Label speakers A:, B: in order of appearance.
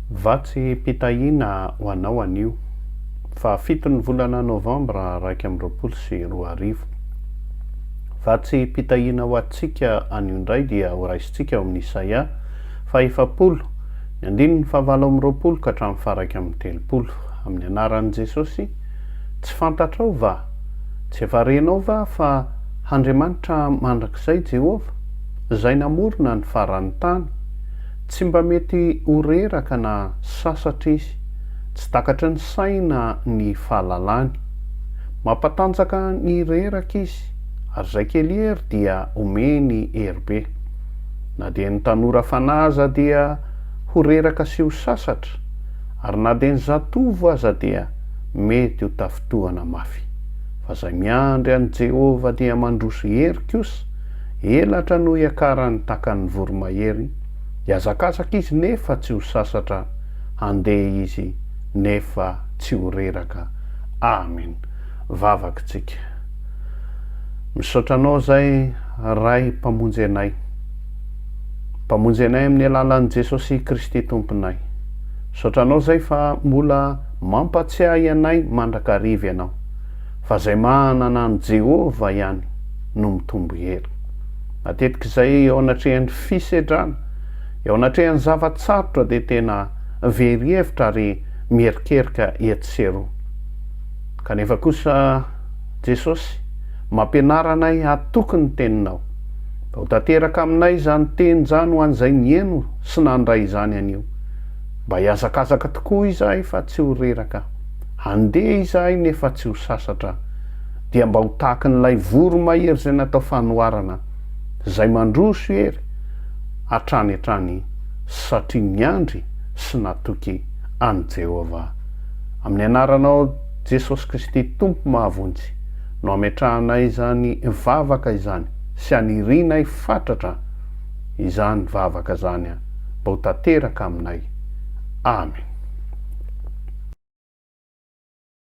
A: Vatsim-pitahiana ho anao anio. Fahafito ny volana novambra iraika amby roapolo sy roa arivo. Vatsim-pitahiana ho antsika anio indray dia horaisintsika ao amin'ny Isaia faha efapolo, ny andininy fahavalo amby roapolo ka hatramin'ny faharaika amby telopolo. Amin'ny anaran'i Jesosy, tsy fantatrao va? Tsy efa renao va fa Handriamanitra mandrakizay Jehovah, Izay namorona ny faran'ny tany, Tsy mba mety ho reraka na sasatra izy. Tsy takatry ny saina ny fahalalany. Mampatanjaka ny reraka izy, ary izay kely hery dia omeny hery be. Na dia ny tanora fanahy aza dia ho reraka sy ho sasatra, ary na dia ny zatovo aza dia mety ho tafintohana mafy. Fa izay miandry an'i Jehovah dia mandroso hery kosa, Elatra no hiakarany takan'ny voromahery, hiazakazaka izy nefa tsy ho sasatra, handeha izy nefa tsy ho reraka. Amen. Vavaka tsika. Misaotra anao zay Ray mpamonjy anay. Mpamonjy anay amin'ny alalan'i Jesosy Kristy Tomponay. Misaotra anao zay fa mbola mampatsiahy anay mandrakariva ianao. fa izay manana an'i Jehovah ihany no mitombo hery. Matetika izay eo anatrehan'ny fisedrana, eo anatrehan'ny zava-tsarotra dia tena very hevitra ary mierikerika etsy sy eroa. Kanefa kosa Jesosy mampianara anay hatoky ny teninao. Mba ho tanteraka aminay izany teny izany ho an'izay niheno sy nandray izany anio. Mba hihazakazaka tokoa izahay fa tsy ho reraka. Handeha izahay nefa tsy ho sasatra dia mba ho tahakin'ilay voromahery izay natao fanoharana izay mandroso ery hatrany hatrany satria niandry sy natoky an'i Jehovah. Amin'ny anaranao Jesosy Kristy Tompo mahavonjy no ametrahanay izany vavaka izany sy anirianay fatratra izany vavaka izany. mba ho tanteraka aminay. Amen.